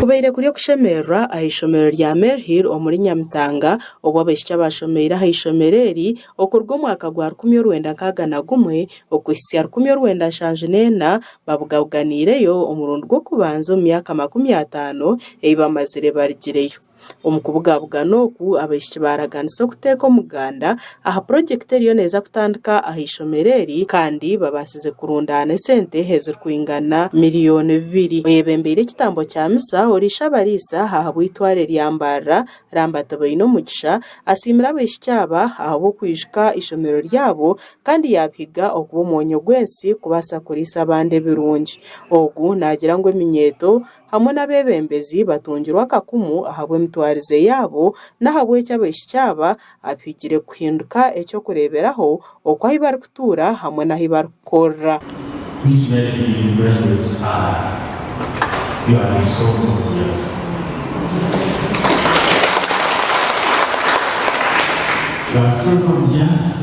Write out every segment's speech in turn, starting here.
Kubaire kuri okushemererwa aha ishomero rya Maryhill omuri Nyamitanga obu abaishiki abashomeire aha ishomero eri okuruga omwaka gwa rukumi orwenda nkaaga na gumwe okuhitsya rukumi orwenda nshanju neena babugabuganiireyo omurundi gw'okubanza omu myaka makumi ataano ei bamazire barigireyo. Omu kubugabugana oku, abaishiki baaraganisa okuteeka omuganda aha purojekiti eriyo neeza kutandika aha ishomero eri kandi babaasize kurundaana esente ezirikwingana miriyooni bibiri. Oyebembeire ekitambo kya misa, Oriishabariisa ahabw'eitware rya Mbarara, Ramba Tibaineomugisha, asiimire abaishiki aba ahabw'okwijuka eishomero ryabo kandi yaabihiga okuba omwonyo gw'ensi kubaasa kuriisa abandi ebirungi. Ogu naagira ngu eminyeeto, hamwe n'abeebembezi batungirwe akakumu ahabw'emitwarize yaabo n'ahabw'ekyo abaishiki aba abihigire kuhinduka eky'okureeberaho oku ahu barikutuura hamwe n'ahu barikukorera. Which Navy graduates are you are the salt of the earth You are the salt of the earth.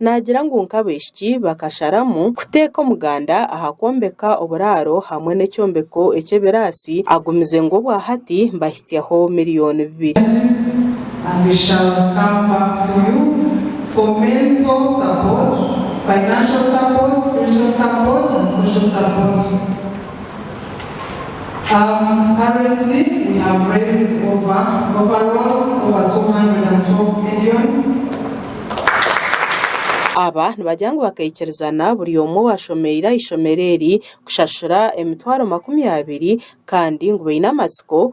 Naagira ngu nk'abaishiki bakasharamu kuteeka omuganda aha kwombeka oburaaro hamwe n'ekyombeko eky'ebiraasi agumize ngu obwahati mbahitsyaho mirioni bibiri. and we shall come back to you for mental support, financial support, spiritual support and social support. Um, currently we have raised over, overall, over 212,000,000. Aba nibagira ngu bakaikirizana buri omwe owashomeire aha ishomero eri kushashura emitwaro makumi abiri kandi ngu baine amatsiko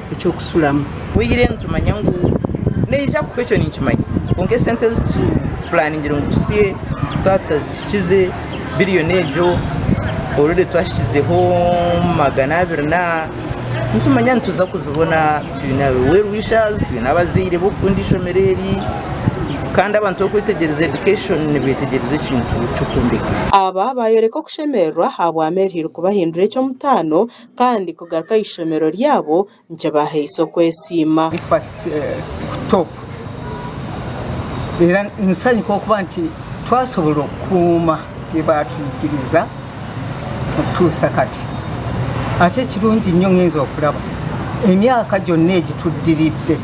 eky'okusulamu. Tweyire nitumanya ngu neija kufa ekyo ninkimanya kwonka esente ezi tu pulaningire ngu tusye twaba tutazihikize biriyoni egyo orore twahikizeho magana abiri na nitumanya nituza kuzibona twine ba well wishers twine abazaire b'okukunda eishomero eri kandi abantu orikwetegyereza education nibeetegyereza ekintu ky'okwombeka. Aba baayoreka okushemererwa ahabwa Mary Hirukubahindura eky'omutaano Kandi kugaruka aha ishomero ryabo nikibahaisa okwesiima. First ku top reero nisanyuka okuba nti twasobora okukuuma ebi batwigiriza kutuusa kati ate ekirungi nyowe ngenze okuraba emyaka gyona egi tudiriidde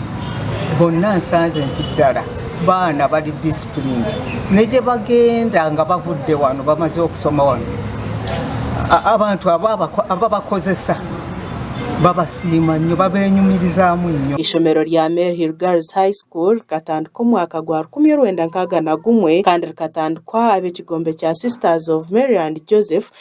bonna nsanze nti ddara Baana bari disciplined negye bagenda nga bavudde wano bamaze okusoma wano abantu ababakozesa babasiima nnyo babenyumirizaamu nnyo. Eishomero rya Male Hill Girls High School rikatandika omwaka gwa rukumi orwenda nkaaga na gumwe kandi rikatandikwa ab'ekigombe kya Sisters of Mary and Joseph,